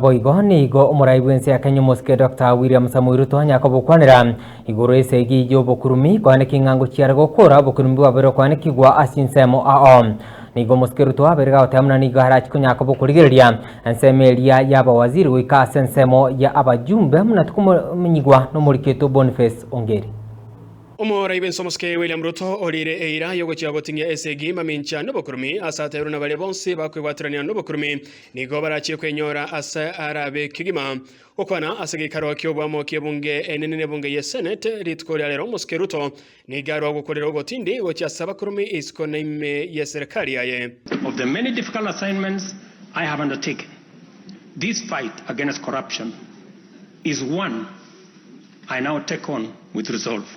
Naboigo nigo omorai bw'ense ya Kenya omosike Doctor William Samoei Ruto anyare kobokwanera igoro y'ense eyio y'obokurumi kwane king'ango chiare gokora obokurumi bwabeire okwanekigwa ase insemo ao. Nigo omosike Ruto abeire gagoteba muna nigo arachi konyara kobokorigereria ensemo eria y'abawaziri goika ase ensemo ya abajumbe muna tikomenyigwa nomoriketwe Boniface Ongeri. Omorai bw'ense omosike William Ruto orire eira yogochia goting'ia ense egi mamincha nobokurumi ase atairwe nabaria bonsi bakwebwaterania nobokurumi Nigo barachie kwenyora ase ara be kegima gokwana ase geikaro ki'oboamo ki'ebunge enene n'ebunge ye Senate rituko ria rero Omosike Ruto nigo arwa gokorera ogotindi gochia ase abakurume isiko na ime ye serikali yaye. Of the many difficult assignments I have undertaken, this fight against corruption is one I now take on with resolve.